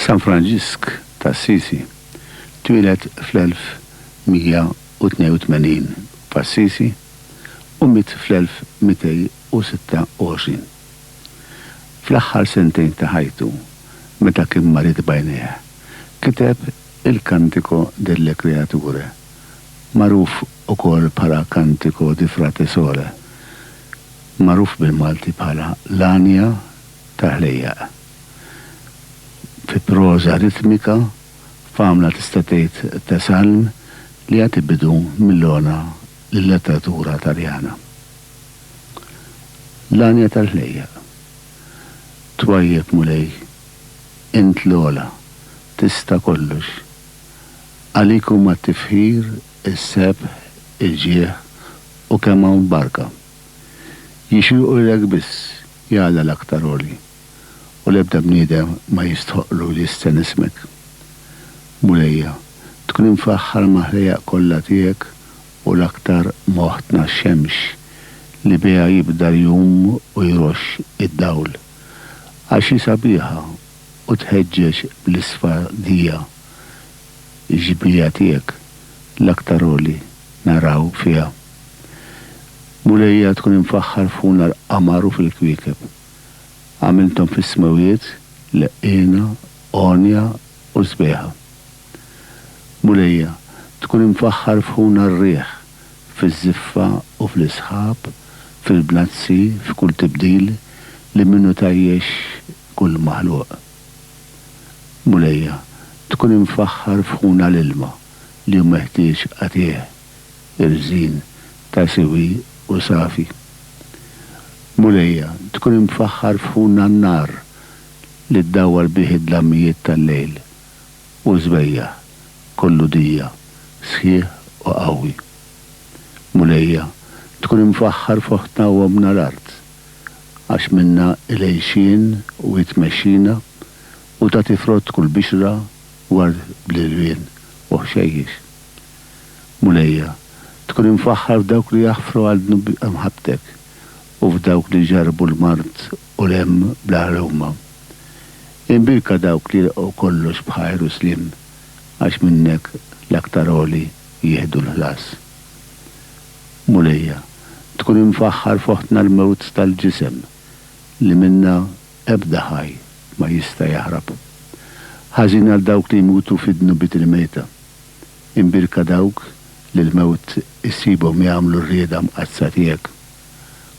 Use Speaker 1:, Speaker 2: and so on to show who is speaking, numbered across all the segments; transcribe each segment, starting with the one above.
Speaker 1: San Franġisk t'Assisi twieled fl-1182 f'Assisi u miet fl-1226. Fl-aħħar sentejn ta' ħajtu, meta kien marid b'għajnejh, kiteb il-Cantico delle Creature, magħruf ukoll bħala Cantico di Frate Sole, magħruf bil-Malti bħala L-Għanja tal-Ħlejjaq. Fi proża ritmika, f'għamla tista' tgħid ta' salm li jagħti bidu mill-għona lil-letteratura Taljana. L-għanja tal-ħlejjaq. Twajjeb Mulej, int l-ogħla, tista' kollox. Għalik huma t-tifħir, is-sebħ, il-ġieħ u kemm hawn barka. Jixirqulek biss, ja Alla l-Aktar Għoli, u l-ebda bniedem ma jistħoqqlu li jistenn ismek. Mulejja, tkun imfaħħar mal-ħlejjaq kollha tiegħek u l-aktar m'oħtna x-xemx li biha jibda l-jum u jroxx id-dawl, għax hi sabiħa u tħeġġeġ bl-isfadija x-xbieha tiegħek l-aktar għoli naraw fiha. Mulejja tkun imfaħħar f'ħuna l-qamar u fil-kwiekeb. Għamilthom fis-smewwiet leqqiena, għonja u sbieħa. Mulejja, tkun imfaħħar f'ħuna r-riħ fiż-żiffa u fl-isħab, fil-bnazzi, f'kull tibdil li minnu tgħajjex kull maħluq. Mulejja, tkun imfaħħar f'ħuna l-ilma li hu meħtieġ qatiegħ, irżin, ta' siwi u safi. Mulejja, tkun imfaħħar f'ħuna n-nar li ddawwar bih id-dlammijiet tal-lejl u żbejjaħ kollu dija sħiħ u qawwi. Mulejja, tkun imfaħħar f'oħtna u ommna l-art, għax minnha il-għixien u hi tmexxina u tagħti frott kull bixra ward bl-irwien u ħxejjex. Mulejja, tkun imfaħħar f'dawk li jaħfru għal dnub imħabbtek u f'dawk li jġarrbu l-mard u remm bl-aħħar huma. Imbierka dawk li jilqgħu kollox b'ħajr u sliem, għax minnek l-aktar għoli jieħdu l-ħlas. Mulejja, tkun imfaħħar f'oħtna l-mewt tal-ġisem, li minnha ebda ħaj ma jista' jaħrab. Ħażin għal dawk li jmutu fi dnubiet il-mejta. Imbierka dawk li l-mewt issibhom jagħmlu r-rieda mqaddsa tiegħek.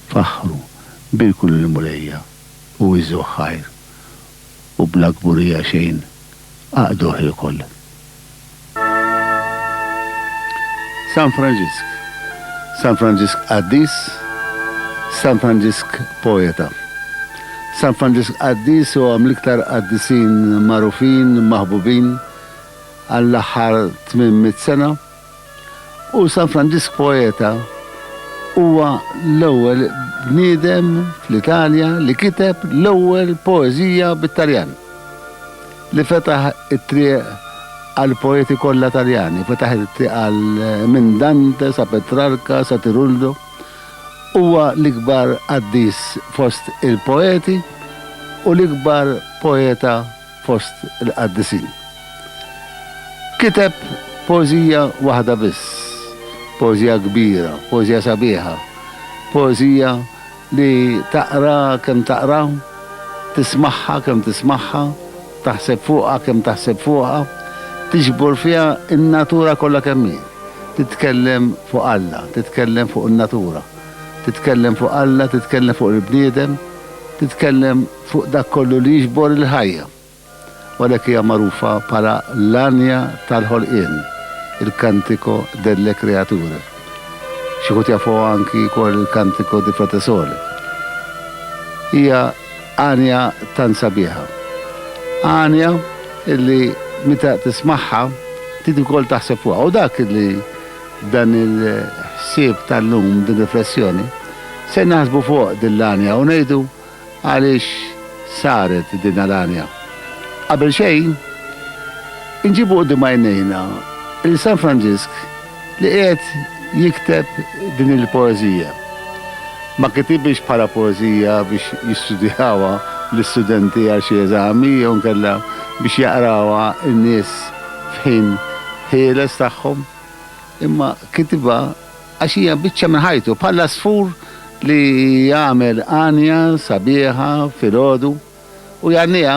Speaker 1: Faħħru, bierku lill-Mulejja, u iżżgħuh ħajr, u bla kburija xejn aqduh ilkoll. San Franġisk San Franġisk qaddis San Franġisk poeta San Franġisk qaddis huwa mill-iktar qaddisin magħrufin, maħbubin, għall-aħħar tmien mitt sena. U San Franġisk Poeta huwa l-ewwel bniedem fl-Italja li kiteb l-ewwel poeżija bit-Taljan, li fetaħ it-triq għall-poeti kollha Taljani, fetaħ it-triq għal minn Dante sa Petrarca sa Tiruldo. Huwa l-ikbar qaddis fost il-poeti u l-ikbar poeta fost il-qaddisin. Kiteb poeżija waħda biss, poeżija kbira, poeżija sabiħa, poeżija li taqra kemm taqra, tismagħha kemm tismagħha, taħseb fuqha kemm taħseb fuqha, tiġbor fiha n-natura kollha kemm hi. Titkellem fuq Alla, titkellem fuq in-natura, titkellem fuq Alla, titkellem fuq il-bniedem, titkellem. fuq dak kollu li jiġbor il-ħajja, u għalhekk hija magħrufa bħala l-għanja tal-ħolqien, il-Cantico delle Creature. Xi wħud jafuha anki wkoll il-Cantico di Frate Sole. Hija għanja tant sabiħa. Għanja li meta tismagħha trid ukoll taħseb fuqha. U dak li dan il-ħsieb tal-lum, din ir-riflessjoni, se naħsbu fuq din l-għanja u ngħidu, għaliex saret din l-għanja. Qabel xejn, inġibu quddiem għajnejna lil San Franġisk li qiegħed jikteb din il-poeżija. Ma kitibhiex bħala poeżija biex jistudjawha l-istudenti għal xi eżami jew inkella biex jaqrawha n-nies f'ħin ħieles tagħhom, imma kitibha Għax hija biċċa minn ħajtu, bħall-għasfur li jagħmel għanja sabiħa filgħodu u jgħanniha,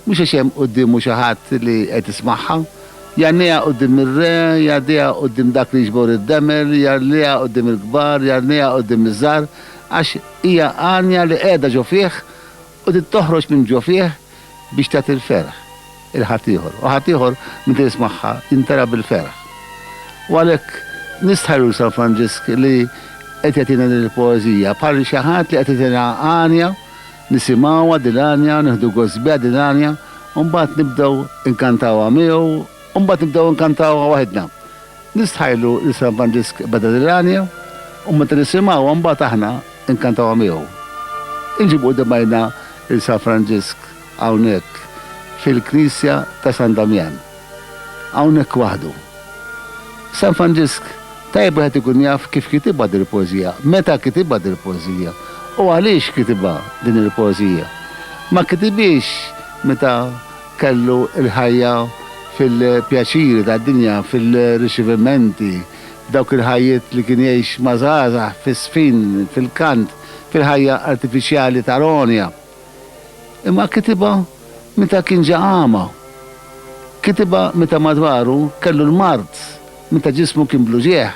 Speaker 1: mhux għax hemm quddiemu xi ħadd li qed ismagħha, jgħanniha quddiem ir-re, jgħaddiha quddiem dak li jiġbor id-demel, jgħalliha quddiem il-kbar, jgħanniha quddiem iż-żgħar, għax hija għanja li qiegħda ġo fih u trid toħroġ minn ġo fih biex tagħti l-ferħ. 'il ħaddieħor, u ħaddieħor minn fejn smagħha imtela' bil-ferħ. U għalhekk nistħarr lil San Franġisk li qed jagħtina din il-poeżija bħal xi ħadd li qed itina għanja, nisimgħuha din l-għanja, nieħdu gost biha din l-għanja, u mbagħad nibdew inkantawha miegħu, u mbagħad nibdew inkantawha waħidna. Nistħarrlu li San Franġisk beda din l-għanja, u meta nisimgħuha mbagħad aħna inkantawha miegħu. Inġibu quddiem għajnna lil San Franġisk. hawnhekk fil-Knisja ta' San Damjan. Hawnhekk waħdu. San Franġisk, tajjeb wieħed ikun jaf kif kitibha dil-poeżija, meta kitibha dil-poeżija, u għaliex kitibha din il-poeżija. Ma kitibhiex meta kellu l-ħajja fil-pjaċiri tad-dinja, fil-riċivimenti, f'dawk il-ħajjiet li kien jgħix ma' żgħażagħ, fis-żfin, fil-kant, fil-ħajja artifiċjali ta' Ronja. Imma kitibha meta kien ġa agħma. Kitibha meta madwaru kellu l-mard, meta ġismu kien bl-uġigħ.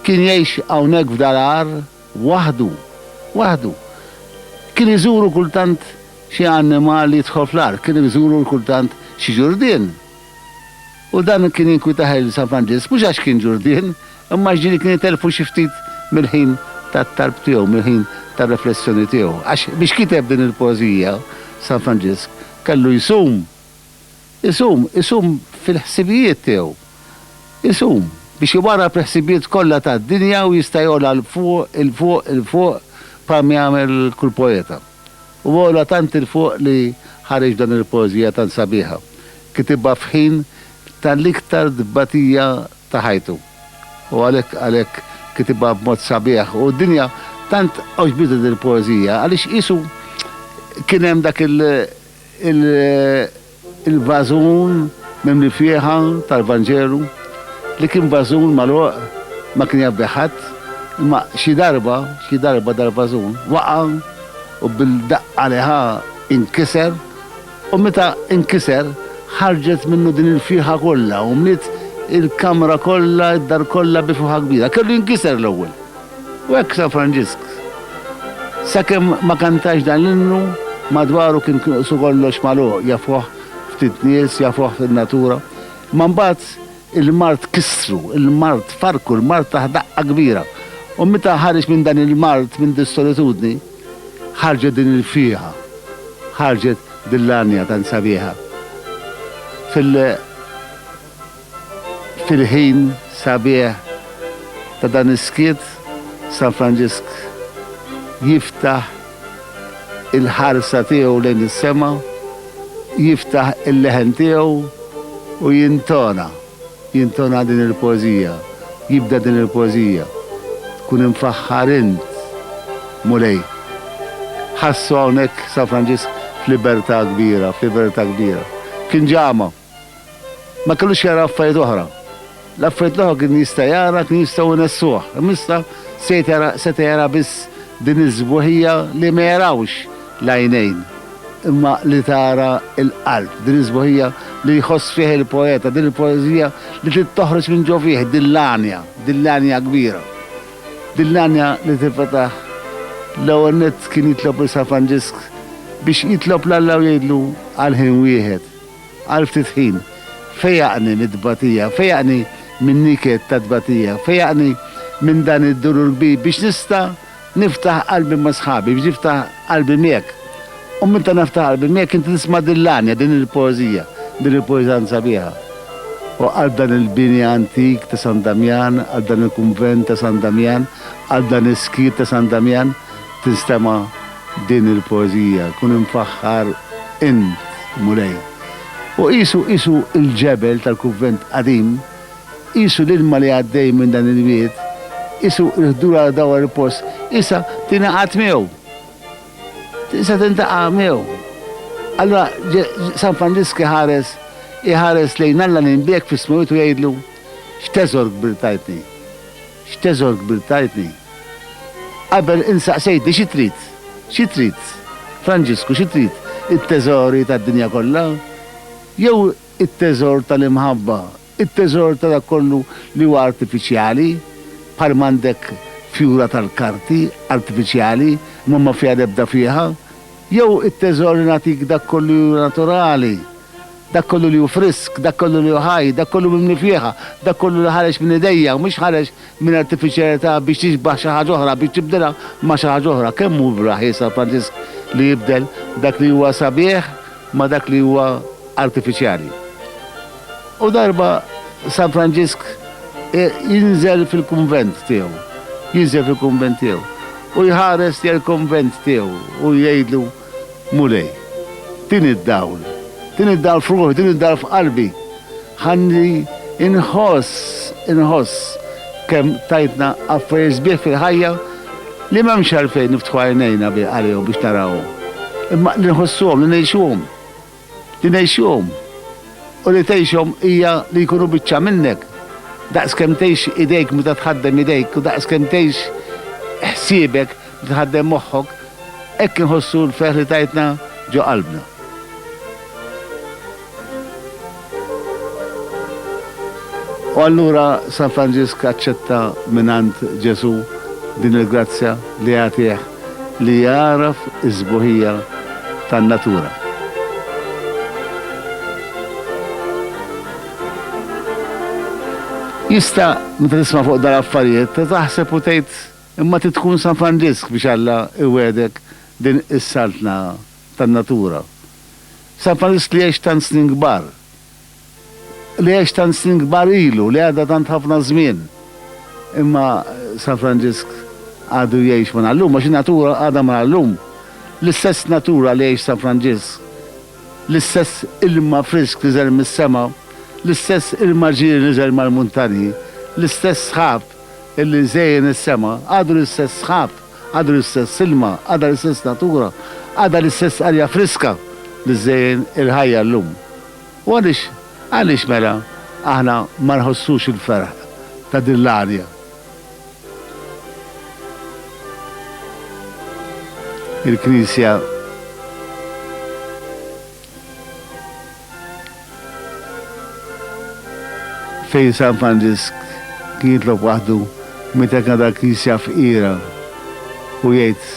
Speaker 1: Kien jgħix hawnhekk f'dar agħar waħdu. Waħdu. Kien iżuru kultant xi annimal jidħol fl-agħar, kien iżuru kultant xi ġurdien. U dan kien jinkwitah lil San Franġisk mhux għax kien Ġurdien, imma għax ġieli kien itelfu xi ftit mill-ħin tat-talb tiegħu, mill-ħin tar-riflessjoni tiegħu. Għax biex kiteb din il-poeżija San Franġisk kellu jsum, isum, isum fil-ħsibijiet tiegħu, isum biex iwarrab il-ħsibijiet kollha tad-dinja u jista' jogħla 'l fuq, 'il fuq, 'il fuq bħalma jagħmel kull poeta. u għola tant 'il fuq li ħareġ dan il-poeżija tant sabiħa, kitibha f'ħin tal-iktar tbatija ta' ħajtu. U għalhekk għalhekk kitibha b'mod sabiħ u d-dinja tant għoġbitha din il-poeżija għaliex qisu kien hemm dak il, il, Il-vażun mimli fieħa tal-Vanġelu, li kien vażun magħluq, ma kien jaf bih ħadd, imma xi darba, xi darba dal-vażun waqa' u bil-daqqa li ħa inkiser, u meta inkiser ħarġet minnu din il-fieħa kollha u mliet il-kamra kollha, id-dar kollha bi fuħa kbira. Kellu jinkiser l-ewwel. U hekk San Franġisk, sakemm ma kantax dan l-innu, madwaru kien qisu kollox magħluq, jafuh ftit nies, jafuh fin-natura. Imma mbagħad il-mard kissru, il-mard farrku, il-mard tah daqqa kbira. U meta ħareġ minn dan il-mard, minn dis-solitudni, ħarġet din il-fieha, ħarġet din l-għanja tant sabiħa fil. Fil-ħin sabiħ ta' dan is-skiet, San Franġisk jiftaħ il-ħarsa tiegħu lejn is-sema, jiftaħ il-leħen tiegħu u jintona, jintona din il-poeżija, jibda din il-poeżija, Tkun imfaħħar int, Mulej. Ħassu hawnhekk San Franġisk f'libertà kbira, f'libertà kbira. Kien ġama. Ma kellux jara affarijiet oħra. L-affarijiet l-oħra kien jista' jara kienu jistgħu jnessuh, imma issa seta' jara biss din is-sbuħija li ma jarawx l-għajnejn, imma li tara l-qalb, din is-sbuħija li jħoss fiha l-poeta, din il-poeżija li trid toħroġ minn ġo fih, din l-għanja, din l-għanja kbira. Din l-għanja li tinfetaħ l-ewwel nett kien jitlob lil San Franġisk biex jitlob 'l Alla u jgħidlu għal ħin wieħed. Għal ftit ħin, fejjaqni mit-tbatija, fejjaqni min-niket tat-tbatija, fejjaqni minn dan id-dulur kbir biex nista' niftaħ qalbi ma' sħabi, biex niftaħ qalbi miegħek. U meta naftaħ qalbi miegħek inti tisma' din l-għanja, din il-poeżija, din il-poeżija tant sabiħa. O qalb dan il-bini antik ta' San Damjan, qalb dan il-kunvent ta' San Damjan, qalb dan is-skiet ta' San Damjan, Tinstema' din il-poeżija, kun imfaħħar int, Mulej. U qisu, qisu il-ġebel tal-kuvvent qadim, qisu l-ilma li għaddej minn dan il-wied, qisu l-ħdur għal dawar il-post, qisha tingħaqad miegħu. Qisha tintaqa' miegħu. Allura San Franġisk iħares, iħares lejn Alla li nbiegħek fis-smewwiet u jgħidlu, X'teżor kbir tajtni. X'teżor kbir tajtni! Qabel insaqsejtni xi trid? Xi trid? Franġisku, xi trid? It-teżori tad-dinja kollha? Jew it-teżor tal-imħabba, it-teżor ta' dak kollu li huwa artifiċjali, bħal m'għandek fjura tal-karti artifiċjali imma ma fiha l-ebda fieħa? Jew it-teżor li nagħtik dak kollu li hu naturali, dak kollu li hu frisk, dak kollu li hu ħaj, dak kollu mimli fieħa, dak kollu li ħareġ minn idejja, mhux ħareġ minn artifiċjalità biex tixbah xi ħaġa oħra, biex tibdilha ma' xi ħaġa oħra. Kemm hu vraħi San Franġisk li jibdel dak li huwa sabiħ ma' dak li huwa artifiċjali! U darba San Franġisk jinżel fil-kunvent tiegħu, jinżel fil-kunvent tiegħu, u jħares lejn il-kunvent tiegħu u jgħidlu, Mulej, din id-dawl, din id-dawl f'ruħi, din id-dawl f'qalbi, ħalli nħoss, inħoss kemm tajtna affarijiet sbieħ fil-ħajja li m'hemmx għalfejn niftħu għajnejna għalihom biex narawhom, imma li nħossuhom, li ngħixuhom. Li ngħixhom u li tgħixhom hija li jkunu biċċa minnek. Daqs kemm tgħix idejk meta tħaddem idejk u daqs kemm tgħix ħsiebek meta tħaddem moħħok, hekk inħossu l-ferħ li tajtna ġo qalbna. U allura San Franġisk aċċetta mingħand Ġesù din il-grazzja li jagħtih li jagħraf is-sbuħija tan-natura. Jista', meta tisma' fuq dal-affarijiet, taħseb u tgħid, Imma trid tkun San Franġisk biex Alla jwiegħdek din is-saltna tan-natura. San Franġisk li għex tant snin kbar. li għex tant snin kbar ilu, li għadda tant ħafna żmien. Imma San Franġisk għadu jgħix minn allum, għax in-natura għadha minn allum. L-istess natura li għex San Franġisk, l-istess ilma frisk li żel mis-sema, l-istess ilma ġieri li żel mal-muntanji, l-istess sħab illi żejjen is-sema, għadu l-istess sħab. Għadu l-istess ilma, għadha l-istess natura, għadha l-istess arja friska li żżejjen il-ħajja llum. U għaliex, għaliex mela aħna ma nħossux il-ferħ ta' din l-arja? Il-Knisja Fejn San Franġisk kien jitlob waħdu meta kien għadha l-Knisja fqira u jgħid,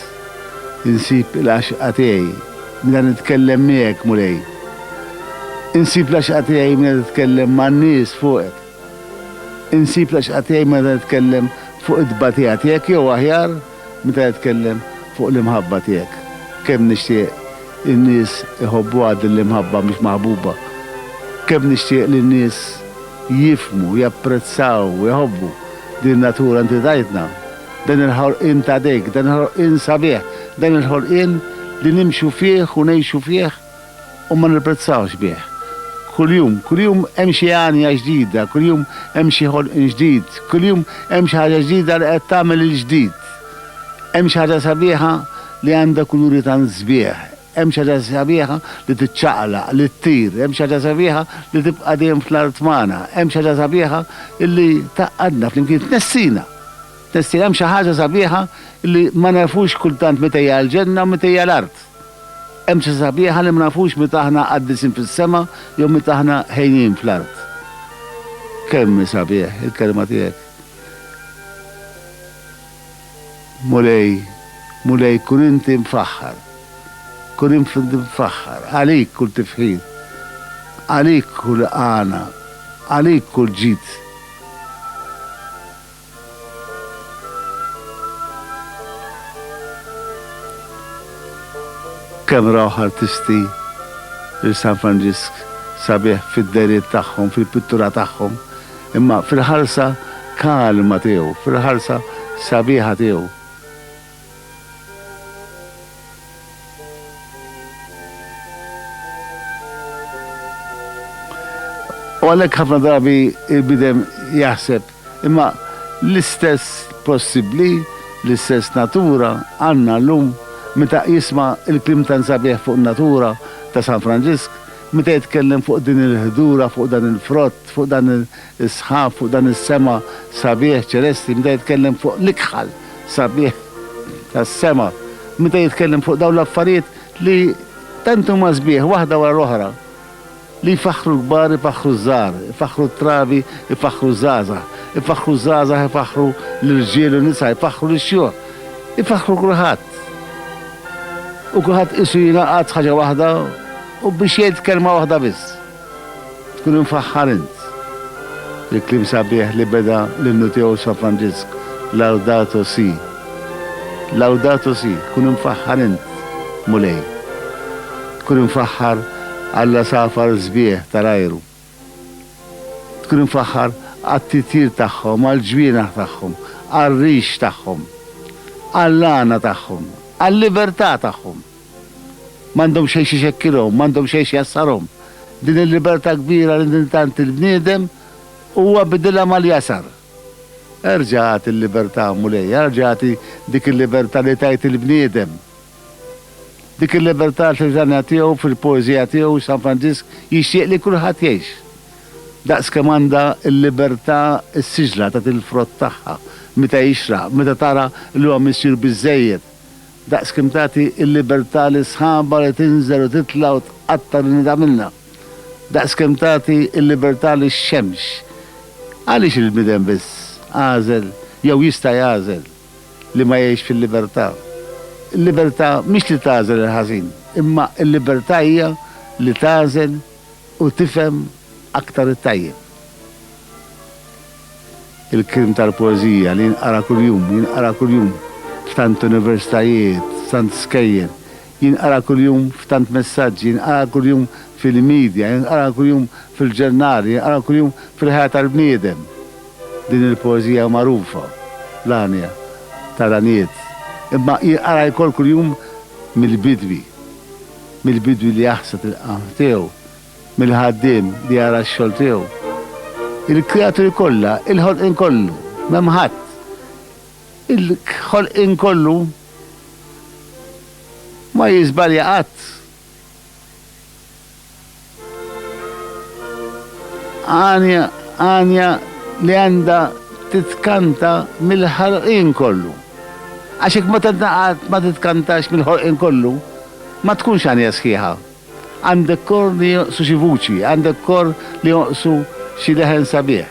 Speaker 1: Insib il-għaxqa tiegħi meta nitkellem miegħek, Mulej. Insib l-għaxqa tiegħi meta titkellem man-nies fuqek. Insib l-għaxqa tiegħi meta nitkellem fuq it-tbatija tiegħek jew aħjar, Meta jitkellem fuq l-imħabba tiegħek, kemm nixtieq in-nies iħobbuha din l-imħabba mhix maħbuba. Kemm nixtieq li n-nies jifhmu, japprezzaw, iħobbu din natura inti tajtna. Dan il-ħolqien t'għadejk, dan il-ħolqien sabiħ, dan il-ħolqien li nimxu fih u ngħixu fih u ma nirprezzawx bih. Kuljum, kuljum hemm xi għanja ġdida, kuljum hemm xi ħolqien ġdid, kuljum hemm xi ħaġa ġdida li qed tagħmel il-ġdid. Hemm xi ħaġa sabiħa li għandha kuluri tant sbieħ, hemm xi ħaġa sabiħa li tiċċaqlaq, li ttir, hemm xi ħaġa sabiħa li tibqa' dejjem fl-art magħna, hemm xi ħaġa sabiħa li tgħaqqadna flimkien, tnessina, tnessina. Hemm xi ħaġa sabiħa li ma nafux kultant meta hija l-ġenna u meta hija l-art. Hemm xi sabiħa li ma nafux meta aħna qaddisin fis-sema jew meta aħna ħejjin fl-art. Kemm hi sabiħ il-kelma tiegħek. Mulej, Mulej, kun inti mfaħħar. Kun inti mfaħħar. Għalik kull tifħir. Għalik kull għana. Għalik kull ġid. Kemm rawh artisti lil San Franġisk sabiħ fid-dehriet tagħhom, fil-pittura tagħhom, imma fil-ħarsa kalma tiegħu, fil-ħarsa sabiħa tiegħu. U għalhekk ħafna drabi l-bniedem jaħseb, imma l-istess possibbli, l-istess natura għandna llum, meta jisma' l-kliem tant sabiħ fuq in-natura ta' San Franġisk, meta jitkellem fuq din il-ħdura, fuq dan il-frott, fuq dan is-sħab, fuq dan is-sema sabiħ ċelesti, meta jitkellem fuq l-ikħal. sabiħ tas-sema meta jitkellem fuq dawn l-affarijiet li tant huma sbieħ waħda wara l-oħra, li jfaħħru l-kbar ifaħħru ż-żgħar, ifaħħru t-trabi ifaħħru ż-żgħażagħ, ifaħħru ż-żgħażagħ ifaħħru l-irġiel u n-nisa, ifaħħru lix-xjuħ, ifaħħru kulħadd. U kulħadd qisu jingħaqad f'ħaġa waħda u biex jgħid kelma waħda biss. Tkun imfaħħar int! Il-kliem sabiħ li beda l-innu tiegħu San Franġisk, Laudato Si. Laudato Si, kun imfaħħar int, Mulej. Tkun imfaħħar għall-għasafar sbieħ tal-ajru. Tkun imfaħħar għat-titjir tagħhom, għall-ġwienaħ tagħhom, għar-rix tagħhom, għall-għana tagħhom, għal-libertà tagħhom. M'għandhom xejn x'ixekkilhom, m'għandhom xejn x'jgħassarhom. Din il-libertà kbira li intant il-bniedem huwa bidilha mal-jgħasar. Erġa' agħti l-libertà, Mulej, erġa' agħti dik il-libertà li tajt il-bniedem. Dik il-libertà fil-litanja tiegħu, fil-poeżija tiegħu, San Franġisk jixtieq li kulħadd jgħix. Daqs kemm għandha l-libertà s-siġla tagħti l-frott tagħha meta jixraq, meta tara li huwa missier biżżejjed Daqs kemm tagħti l-libertà lis-sħaba li tinżel u titla' u tqatta' lil nidha minnha. Daqs kemm tagħti l-libertà lix-xemx. Għaliex il-bniedem biss għażel jew jista' jagħżel li ma jgħix fil-libertà? Il-libertà mhix li tagħżel il-ħażin, imma l-libertà hija li tagħżel u tifhem aktar it-tajjeb. Il-krim tal-poeżija li jinqara kuljum, jinqara kuljum f'tant universitajiet, f'tant skejjel, jinqara kuljum f'tant messaġġi, jinqara kuljum fil-midja, jinqara kuljum fil-ġurnali, jinqara kuljum fil-ħajja tal-bniedem. Din il-poeżija magħrufa, l-għanja, tal-għanijiet, imma jinqara jkoll kuljum mill-bidwi, mill-bidwi li jaħsad il-qamħ tiegħu, mill-ħaddiem li jara x-xogħol tiegħu. Il-kreaturi kollha, il-ħolqien kollu, m'hemm ħadd, il-ħolqien kollu ma jiżbalja qatt. Għanja, għanja li għandha titkanta mill-ħolqien kollu. Għax hekk meta ma titkantax mill-ħolqien kollu, ma tkunx għanja sħiħa. Għandek kor li jonqsu xi vuċi, għandek kor li jonqsu xi leħen sabiħ.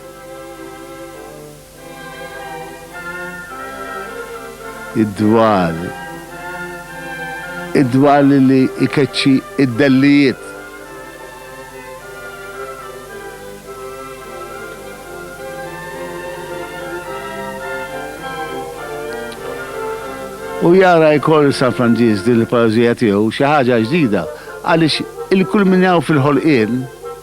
Speaker 1: Id-dwal. Id-dwal li jkeċċi d-dellijiet. U jara jkoll San Franġisk din il-poeżija tiegħu xi ħaġa ġdida għaliex il-kull min hawn fil-ħolqien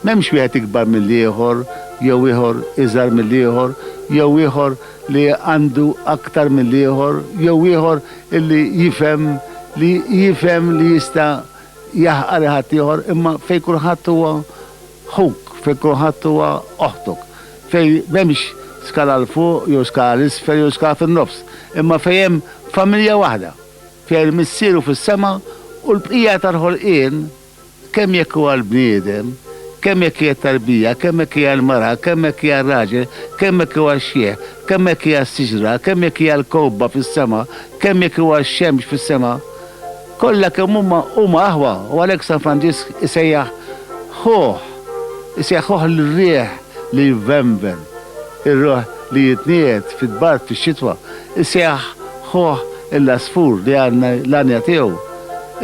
Speaker 1: m'hemmx wieħed ikbar mill-ieħor jew ieħor iżgħar mill-ieħor jew ieħor li għandu aktar mill-ieħor jew ieħor li jifhem li jifhem li jista' jaħqar il-ħaddieħor imma fejn kulħadd huwa ħuk, fejn kulħadd huwa oħtuk, fejn m'hemmx skala 'l fuq jew skala 'l isfel jew skala fin-nofs, imma fejn hemm familja waħda, fiha l-Missier hu fis-sema u l-bqija tal-ħolqien, kemm jekk huwa l-bniedem, kemm jekk hija t-tarbija, kemm jekk hija l-mara, kemm jekk hija r-raġel, kemm jekk huwa x-xjieh, kemm jekk hija s-siġra, kemm jekk hija l-kewkba fis-sema, kemm jekk huwa x-xemx fis-sema. Kollha kemm huma, huma aħwa u għalhekk San Franġisk isejjaħ ħuh, isejjaħ ħuh l-riħ li jvenven, ir-ruħ li jitniegħed fid-dbart fix-xitwa, isejjaħ ħuh l-għasfur li għandna l-għanja tiegħu,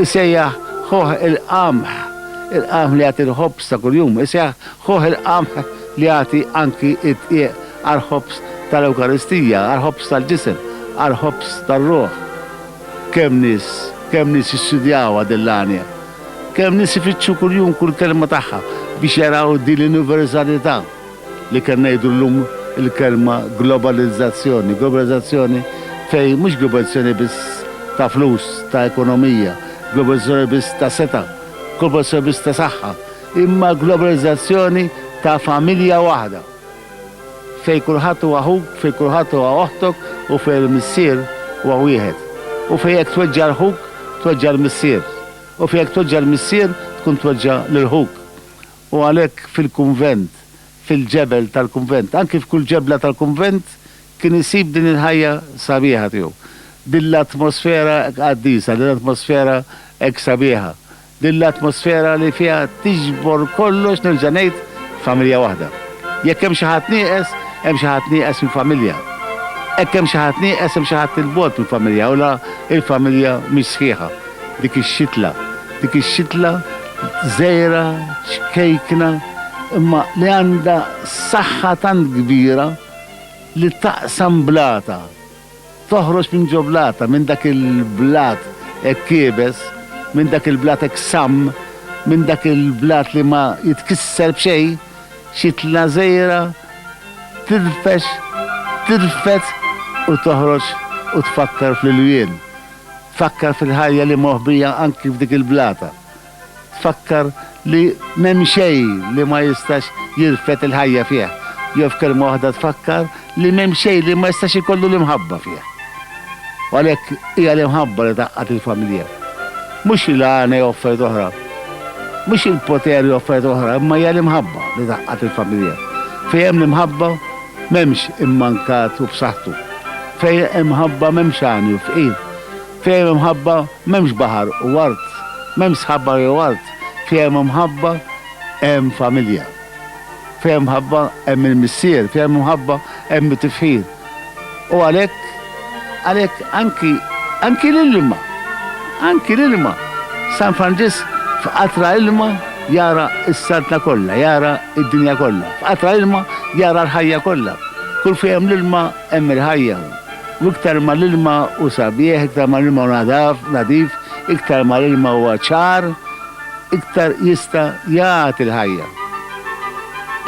Speaker 1: isejjaħ ħuh il-qamħ, il-qamħ li jagħti l-ħobż ta' kuljum, isejjaħ ħuh il-qamħ li jagħti anki d-dqiq għall-ħobż tal-Ewkaristija, għall-ħobż tal-ġisem, għall-ħobż tar-ruħ. Kemm nies, kemm nies jistudjawha din l-għanja. Kemm nies ifittxu kuljum kull kelma tagħha biex jaraw din l-universalità li kemm ngħidu llum il-kelma globalizzazzjoni. Globalizzazzjoni fejn mhux globalizzazzjoni biss ta' flus, ta' ekonomija, globalizzazzjoni biss ta' setgħa, globalizzazzjoni biss ta' saħħa, imma globalizzazzjoni ta' familja waħda. fejn kulħadd hu aħuk, fejn kulħadd huwa oħtok u fejn il-Missier huwa wieħed, u fejn jekk tweġġa' l-ħuk, tweġġa' l-Missier, u fejn jekk tweġġa' l-Missier tkun tweġġa' lil ħuk. U għalhekk fil-kunvent, fil-ġebel tal-kunvent, anki f'kull ġebla tal-kunvent kien isib din il-ħajja sabiħa tiegħu, din l-atmosfera hekk qaddisa, din l-atmosfera hekk sabiħa Din l-atmosfera li fiha tiġbor kollox, nerġa' ngħid, familja waħda. Jekk hemm xi ħadd nieqes, hemm xi ħadd nieqes mill-familja. Hekk hemm xi ħadd nieqes hemm xi ħadd 'il bogħod mill-familja u la l-familja mhix sħiħa. Dik ix-xitla, dik ix-xitla żgħira, ċkejkna, imma li għandha saħħa tant kbira li taqsam blata Toħroġ minn ġo blata, minn dak il-blat hekk iebes, minn dak il-blat hekk samm, minn dak il-blat li ma jitkisser b'xejn, xi tlażejra tirfex, tirfed u toħroġ u tfakkar fl-ilwien, tfakkar fil-ħajja li moħbija anki f'dik il-blata. Fakkar li m'hemm xejn li ma jistax jirfed il-ħajja fih, jew f'kelma waħda tfakkar li m'hemm xejn li ma jistax ikollu l-imħabba fih. U għalhekk hija l-imħabba li tgħaqqad il-familja. Mhux li l-għana jew affarijiet oħra, mhux il-poter jew affarijiet oħra, imma hija l-imħabba li tgħaqqad il-familja. Fejn hemm l-imħabba m'hemmx immankat u b'saħħtu. Fejn hemm ħabba m'hemmx għani u fqir. Fejn hemm mħabba m'hemmx baħar u art, m'hemmx sħaba jew art, fejn hemm imħabba hemm familja. Fejn hemm mħabba hemm il-missier, fejn hemm imħabba hemm it-tifħir. U għalhekk, għalhekk anki, anki l-ilma, anki l-ilma, San Franġisk f'qatra ilma jara s-saltna kollha, jara d-dinja kollha. F'qatra ilma jara l-ħajja kollha. Kull fejn hemm l-ilma Hemm il-ħajja hawn. U iktar ma l-ilma hu sabiħ, iktar ma l-ilma hu nadaf, nadif, iktar ma l-ilma huwa ċar, iktar jista' jagħti l-ħajja.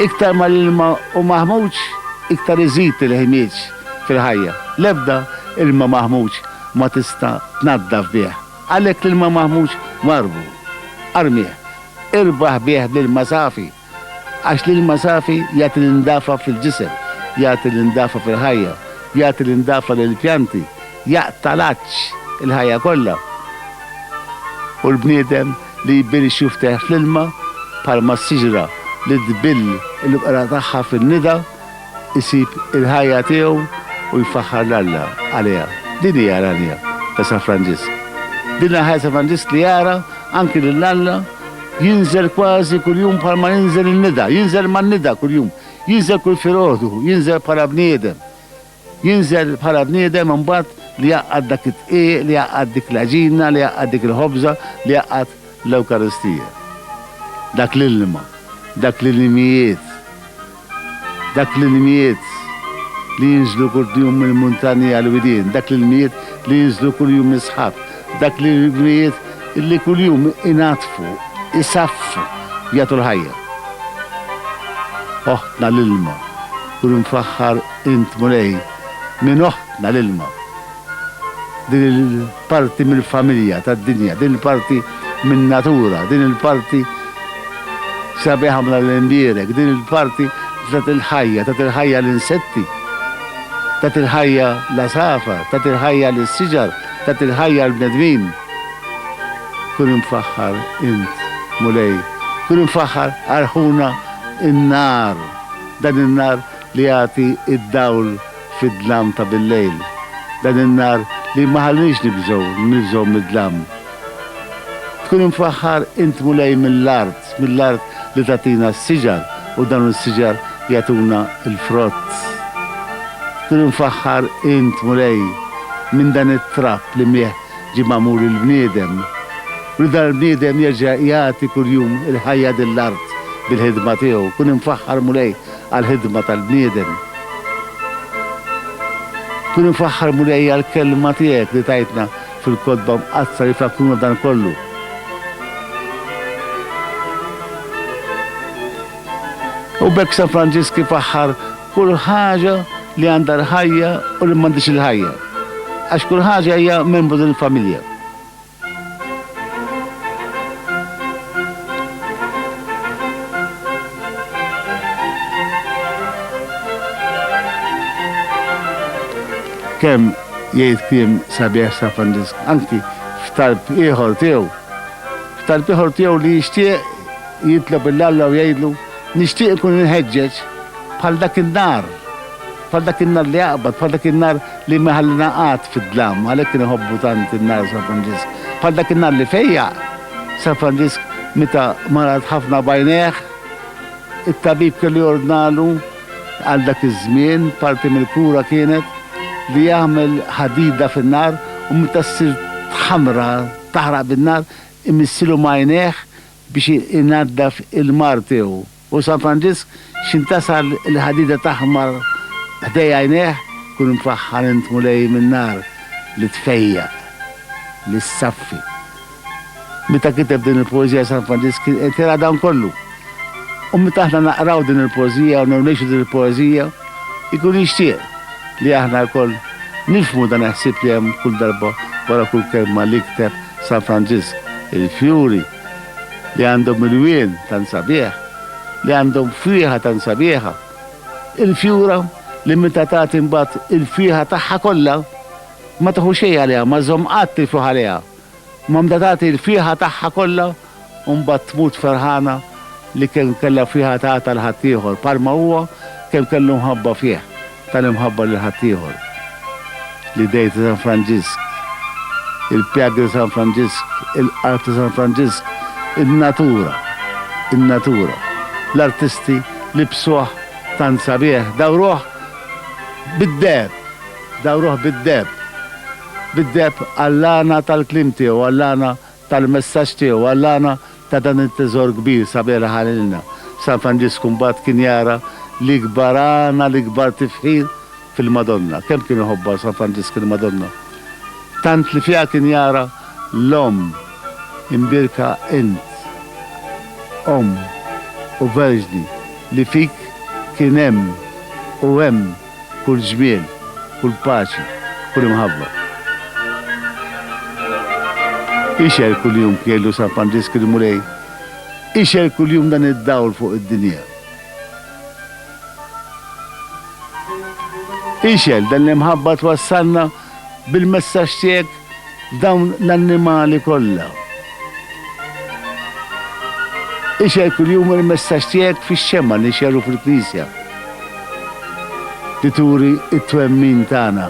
Speaker 1: Iktar ma l-ilma hu maħmuġ, iktar iżid il-ħmieġ fil-ħajja. L-ebda ilma maħmuġ ma tista' tnaddaf bih. Għalhekk l-ilma maħmuġ warrbu. Armih. Irbaħ bih l-ilma safi. Għax l-ilma safi jagħti l-indafa fil-ġisem, jagħti l-indafa fil-ħajja, jagħti l-indafa lill-pjanti, jaqta' l-għatx il-ħajja kollha. U l-bniedem li jbill ix-xuftejh fl-ilma, bħalma s-siġra li tbill il-bqra tagħha fin-nida, isib il-ħajja tiegħu u jfaħħar 'l Alla għaliha. Din hija l-għanja ta' San Franġisk. Din hija l-ħajja ta' San Franġisk li jara anki lil Alla jinżel kważi kuljum bħal ma jinżel in-nida, jinżel man-nida kuljum, jinżel kull filgħodu, jinżel bħala bniedem. Jinżel bħala bniedem imbagħad li jgħaqqad dak id-dqiq, li jgħaqqad dik l-għaġina, li jgħaqqad dik il-ħobża, li jgħaqqad l-Ewkaristija. Dak l-ilma, dak l-ilmijiet. Dak l-ilmijiet li jinżlu kull jum mill-muntanji għall-widien, dak l-ilmijiet li jinżlu kull jum mis-sħab, dak l-ilmijiet li kull jum inaddfu, isaffu, jagħtu l-ħajja. Oħtna l-ilma, kun imfaħħar int Mulej minn oħtna l-ilma. Din il-parti mill-familja tad-dinja, din il-parti min-natura, din il-parti sabiħa mla l-imbierek, din il-parti tat il-ħajja, tat il-ħajja l-insetti, tat il-ħajja l-għasafar, tat il-ħajja l-siġar, tat il-ħajja l-bnedmin. Kun imfaħħar int, Mulej, kun imfaħħar arħuna in-nar, dan in-nar li jagħti id-dawl fid-dlam ta' billejl, dan in-nar li ma ħallinix nibżgħu, nibżgħu mid-dlam. Tkun imfaħħar int Mulej mill-art, mill-art li tagħtina s-siġar u dawn is-siġar jagħtuna l-frott. Tkun imfaħħar int Mulej minn dan it-trab li miegħ ġie magħmul il-bniedem, u li dan il-bniedem jerġa' jagħti kuljum il-ħajja lill-art bil-ħidma tiegħu. Kun imfaħħar Mulej għall-ħidma tal-bniedem. Kun imfaħħar Mulej għall-kelma tiegħek li tajtna fil-Kotba Mqaddsa li tfakkruna b'dan kollu. U bekk San Franġisk ifaħħar kull ħaġa li għandha l-ħajja u li m'għandix il-ħajja. Għax kull ħaġa hija membru din il-familja. Kemm jgħid kliem sabiħ San Franġisk, anki f'talb ieħor tiegħu. F'talb ieħor tiegħu li jixtieq jitlob 'l Alla u jgħidlu, Nixtieq inkun imħeġġeġ bħal dak in-nar Bħal dak in-nar li jaqbad, bħal dak in-nar li ma jħallina qatt fid-dlam, għalhekk kien iħobbu tant in-nar San Franġisk. Bħal dak in-nar li fejjaq San Franġisk meta marat ħafna b'għajnejh, it-tabib kellu jordnalu, għal dak iż-żmien, parti mill-kura kienet, li jagħmel ħadida fin-nar u meta ssir tħammra, taħraq bin-nar, imissilu m'għajnejh biex inaddaf il-mar tiegħu. U San Franġisk x'intasar il-ħadida taħmar ħdej għajnejh, kun imfaħħar int Mulej min-nar li tfejjaq, li ssaffi. Meta kiteb din il-poeżija San Franġisk kien qed jara dan kollu. U meta aħna naqraw din il-poeżija u ngħixu din il-poeżija, ikun jixtieq li aħna lkoll nifhmu dan il-ħsieb li hemm kull darba wara kull kelma li kteb San Franġisk, il-fjuri, li għandhom ilwien tant sabiħ, li għandhom frieħa tant sabiħa, il-fjura li meta tagħti mbagħad il-frieħa tagħha kollha ma tieħu xejn għaliha, ma żżomm qatt il-frieħ għaliha, imma meta tagħti l-frieħa tagħha kollha u mbagħad tmut ferħana li kemm kellha frieħa tagħtha 'l ħaddieħor bħalma huwa kemm kellu mħabba fih. Tal-imħabba lil ħaddieħor. L-idejn ta' San Franġisk. Il-pjagi ta' San Franġisk. Il-qalb ta' San Franġisk. In-natura. In-natura. L-artisti libsuh tant sabiħ, dawruh bid-deheb. Dawruh bid-deheb. Bid-deheb għall-għana tal-kliem tiegħu, għall-għana. tal-messaġġ tiegħu għall-għana ta' dan it-teżor kbir sabiħ li ħa lilna. San Franġisku mbagħad kien jara l-ikbar għana, l-ikbar tifħir fil-Madonna. Kemm kien iħobbha San Franġisku l-Madonna! Tant li fiha kien jara l-Omm imbierka int, Omm u Verġni, li fik kien hemm u hemm, kull żmien, kull paċi, kull imħabba. Ixgħel kuljum kejlu San Franġisk il-Mulej, ixgħel kuljum dan id-dawl fuq id-dinja. Ixgħel dan l-imħabba twassalna bil-messaġġ tiegħek f'dawn l-annimali kollha. Ixgħel kuljum il-messaġġ tiegħek fix-xemgħa li nxerru fil-Knisja li turi t-twemmin tagħna.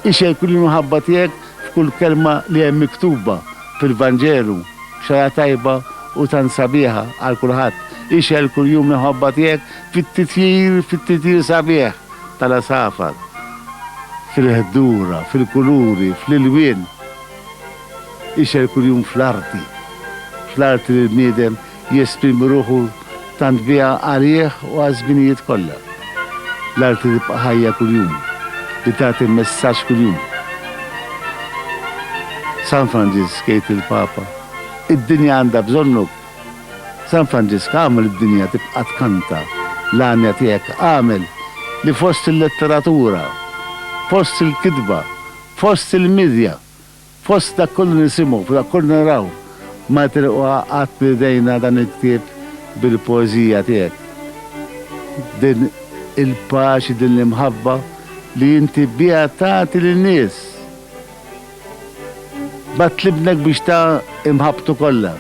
Speaker 1: Ixgħel kull imħabba tiegħek f'kull kelma li hemm miktuba fil-Vanġelu, xara tajba u tant sabiħa għal kulħadd. Ixgħel kuljum l-imħabba tiegħek Fit-titjir, fit-titjir sabiħ tal-għasafar, fil-ħdura, fil-kuluri, fl-ilwien. Ixgħel kuljum fl-arti, fl-arti li l-bniedem jesprimi ruħu tant biha għalih u għaż-żminijiet kollha. L-arti li tibqa' ħajja kuljum, li tagħti messaġġ kuljum. San Franġisk, jgħid il-Papa, id-dinja għandha bżonnuk San Franġisk għamel id-dinja tibqa' tkanta, l-għanja tiegħek għamel li fost il-letteratura, fost il-kitba, fost il-midja, fost dak kollu li nisimgħu, f'dak kollu li naraw, ma jitilqu qatt minn idejna dan il-ktieb bil-poeżija tiegħek. Din il-paċi, din l-imħabba li inti biha tagħti lin-nies. Bagħat l-Ibnek biex ta imħabbtu kollha.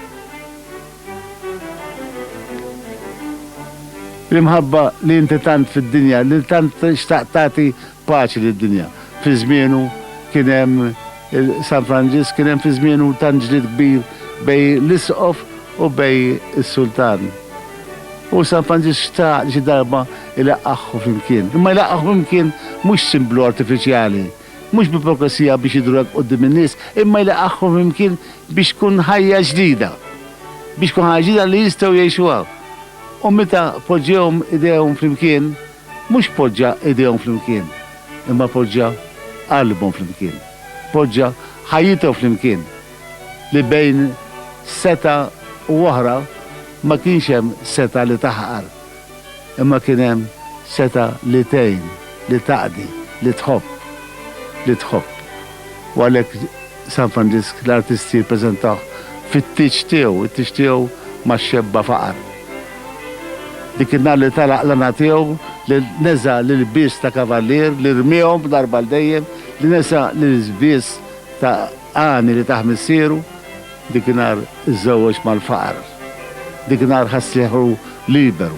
Speaker 1: L-imħabba li inti tant fid-dinja, li tant xtaqt tagħti paċi lid-dinja. Fi żmienu kien hemm San Franġisk kien hemm fi żmienu tant ġlied kbir bej l-Isqof u bej is-Sultan. U San Franġisk xtaq xi darba ilaqqaħħu flimkien. Imma jlaqqaħħu flimkien mhux simblu artifiċjali, mhux bi profezija biex jidhru hekk quddiem in-nies, imma jlaqqagħhom flimkien biex tkun ħajja ġdida, biex tkun ħajja ġdida li jistgħu jgħixuha. U meta poġġiehom idejhom flimkien, mhux poġġa idejhom flimkien, imma poġġa qalbhom flimkien, poġġa ħajjithom flimkien, li bejn setgħa u oħra ma kienx hemm setgħa li taħqar. imma kien hemm setgħa li tgħin, li taqdi, li tħobb, li tħobb. U għalhekk San Franġisk l-artisti jippreżentawh fit-tieġ tiegħu, it-tieġ tiegħu ma xebba faqar. Dik in-nar li tala' qlana tiegħu, li neża' l-ilbies ta' kavallier, li rmiehom b'darba għal dejjem, li nesa' l-ilbies ta' għani li tah missieru, Dik in-nhar iżżewweġ mal-faqar. Dik in-nhar ħass rieħu liberu.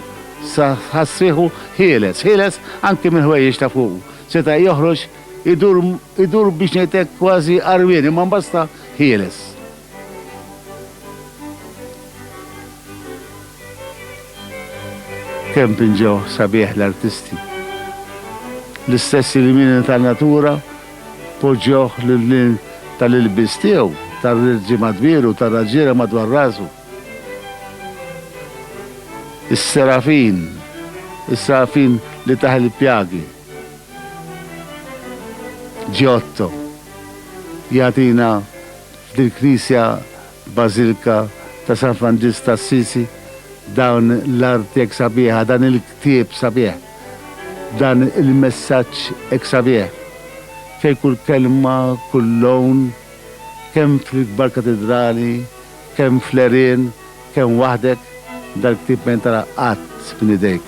Speaker 1: Ħass rieħu ħieles, ħieles anki mill-ħwejjeġ ta' fuqu. Seta' joħroġ idur, idur biex ngħid hekk kważi għarwien imma mbagħad sta ħieles. Kemm pinġew sabiħ l-artisti. L-istess ilmini tan-natura Poġġewh lil hinn tal-ilbies tiegħu, tar-rirġi madwieru u tar-raġiegħla madwar rasu. Is-serafin, is-serafin li tah il-pjagi. Giotto jagħtina f'din il-knisja bażilka ta' San Franġisk ta' Assisi dawn l-arti hekk sabiħa, dan il-ktieb sabiħ. Dan il-messaġġ ex Xavier, fejn kull kelma, kull lawn, kemm fl-ikbar katidrali, kemm fl-għerien, kemm waħdek, dal-ktieb ma jintalaq qatt minn idejk.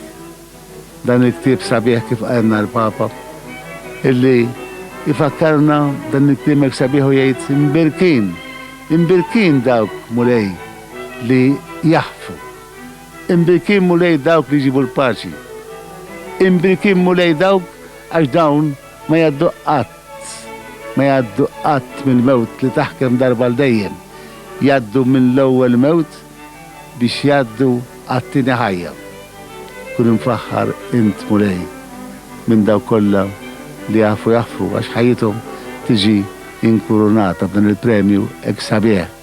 Speaker 1: Dan il-ktieb sabiħ kif qalilna l-Papa, illi jfakkarna dan il-kliem ex sabiħ u jgħid imbierkin, imbierkin dawk, Mulej, li jaħfu. Imbrikin Mulej dawk li jġibu l-paċi. Imbrikin Mulej dawk għax dawn ma jgħaddu qatt, ma jgħaddu qatt mill-mewt li taħkem darba għal dejjem. Jgħaddu mill-ewwel mewt biex jgħaddu għat-tieni ħajja. Kun imfaħħar int Mulej minn dawk kollha li jafu jaħfru għax ħajjithom tiġi inkurunata b'dan il-premju ex Sabiħ.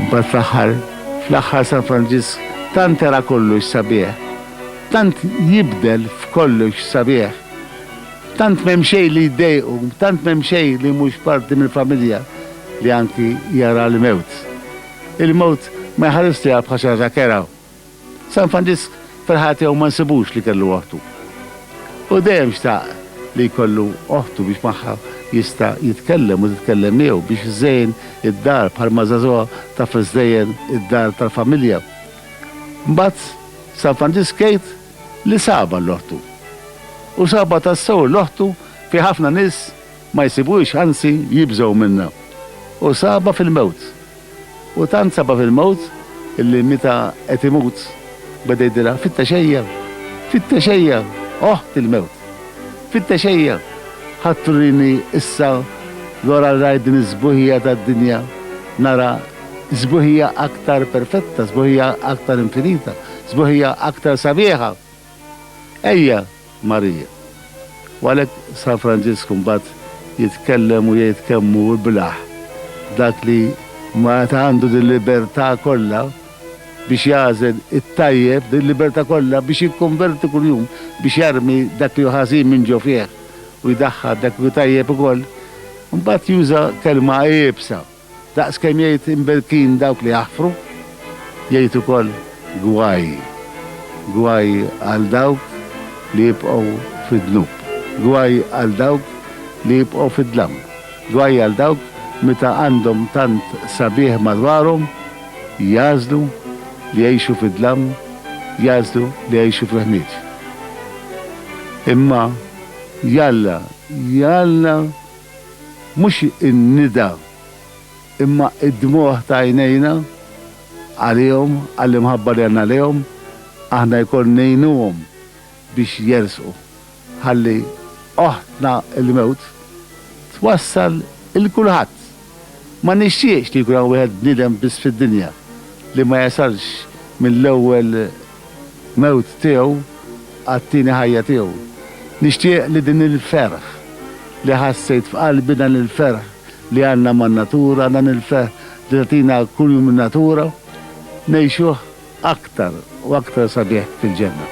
Speaker 1: Imbagħad fl-aħħar, fl-aħħar San Franġisk tant era kollox sabiħ, tant jibdel f'kollox sabiħ, tant m'hemm xejn li jdejqu, tant m'hemm xejn li mhux parti mill-familja li anki jara l-mewt. Il-mewt ma jħarislu bħala xi ħaġa kerha. San Franġisk ferħa tiegħu ma nsibux li kellu oħtu. Hu dejjem xtaq li jkollu oħtu biex magħha jista' jitkellem u titkellem miegħu, biex iżżejjen id-dar bħalma żagħżugħa taf iżżejjen id-dar tal-familja. Mbagħad San Franġisk jgħid li sabha l-oħtu. U sabha tassew l-oħtu fi ħafna nies ma jsibuhiex anzi jibżgħu minnha. U sabha fil-mewt. U tant sabha fil-mewt illi meta qed imut beda jgħidilha, Fittex ejja! Fittex ejja! Oħt il-mewt! Fittex ejja! Ħadd turini issa l-ora li rajt din is-sbuħija tad-dinja, nara sbuħija aktar perfetta, sbuħija aktar infinita, sbuħija aktar sabiħa! Ejja! Marija. U għalhekk San Franġisku mbagħad jitkellem u jgħid kemm hu iblah dak li meta għandu dil-libertà kollha biex jagħżel it-tajjeb, dil-libertà kollha biex jikkonverti kuljum, biex jarmi dak li hu ħażin minn ġo fih u jdaħħal dak li hu tajjeb ukoll, imbagħad juża kelma iebsa. Daqs kemm jgħid imbelkin dawk li jaħfru, jgħid ukoll gwaj. Gwaj għal dawk li jibqgħu fid-dnub. Gwaj għal dawk li jibqgħu fid-dlam. Gwaj għal dawk meta għandhom tant sabiħ madwarhom, jagħżlu li jgħixu fid-dlam, jagħżlu li jgħixu fil-ħmieġ. Imma jalla, jalla Mhux in-nida imma d-dmugħ ta' għajnejna għalihom, għall-imħabba li għandna lejhom, aħna jkoll ngħinuhom biex jersqu, ħalli oħtna l-mewt twassal 'il kulħadd. Ma nixtieqx li jkun hawn wieħed bniedem biss fid-dinja li ma jasalx mill-ewwel mewt tiegħu għat-tieni ħajja tiegħu. Nixtieq li din il-ferħ li ħassejt f'qalbi, dan il-ferħ li għandna man-natura, dan il-ferħ li tagħtina kuljum in-natura, ngħixuh aktar u aktar sabiħ fil-ġenna.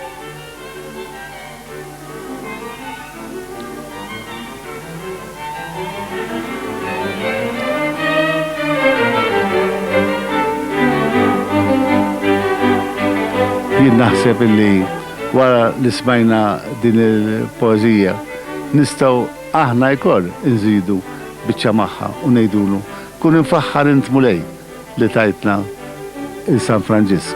Speaker 1: Jien naħseb illi wara li smajna din il-poeżija nistgħu aħna jkoll inżidu biċċa magħha u ngħidulu, Kun imfaħħar int Mulej li tajtna 'l San Franġisk.